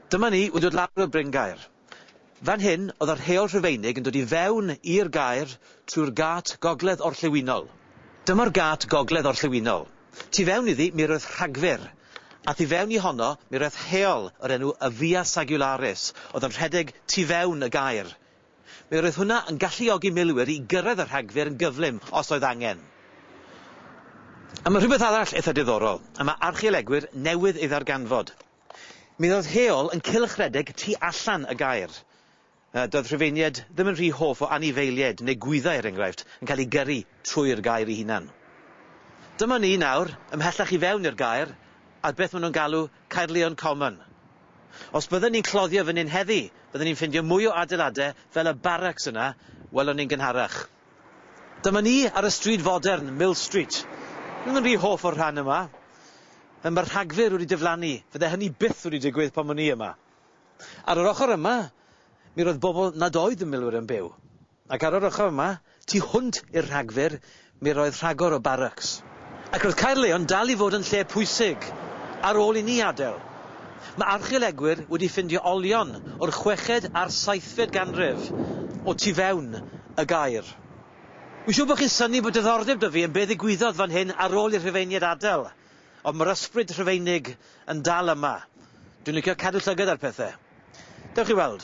Dyma ni wedi dod lawr y bryngaer. Fan hyn oedd yr Heol Rhufeinig yn dod i fewn i'r gaer trwy'r gât gogledd orllewinol. Dyma'r gât gogledd orllewinol. Tu fewn iddi mi roedd rhagfyr, a thu fewn i honno mi roedd heol o'r enw y Via Sagularis oedd yn rhedeg tu fewn y gaer Mi roedd hwnna yn galluogi milwyr i gyrraedd y rhagfyr yn gyflym os oedd angen. A mae rhywbeth arall eitha diddorol, y mae archeolegwyr newydd ei ddarganfod. Mi ddoedd heol yn cylchredeg tu allan y gaer. Yy, doedd Rhufeiniaid ddim yn rhy hoff o anifeiliaid neu gwyddau, er enghraifft, yn cael eu gyrru trwy'r gaer ei hunan. Dyma ni nawr, ymhellach i fewn i'r gaer, ar beth maen nhw'n galw Caerlleon Common. Os bydden ni'n cloddio fan hyn heddi, bydden ni'n ffindio mwy o adeilade fel y barracks yna welon ni'n gynharach. Dyma ni ar y stryd fodern, Mill Street. Roeddwn rhy hoff o'r rhan yma. Fel mae'r rhagfyr wedi diflannu, fydde hynny byth wedi digwydd pan o'n i yma. Ar yr ochr yma, mi roedd bobl nad oedd yn milwyr yn byw. Ac ar yr ochr yma, tu hwnt i'r rhagfyr, mi roedd rhagor o barracks. Ac roedd Caerleon dal i fod yn lle pwysig ar ôl i ni adael. Mae archeolegwyr wedi ffindio olion o'r chweched a'r saethfed ganrif o tu fewn y gaer. Wi'n siŵr bod chi'n synnu bod diddordeb 'da fi yn be ddigwyddodd fan hyn ar ôl i'r Rhufeiniaid adael, ond mae'r ysbryd Rhufeinig yn dal yma. Dwi'n licio cadw llygad ar pethau. Dewch i weld.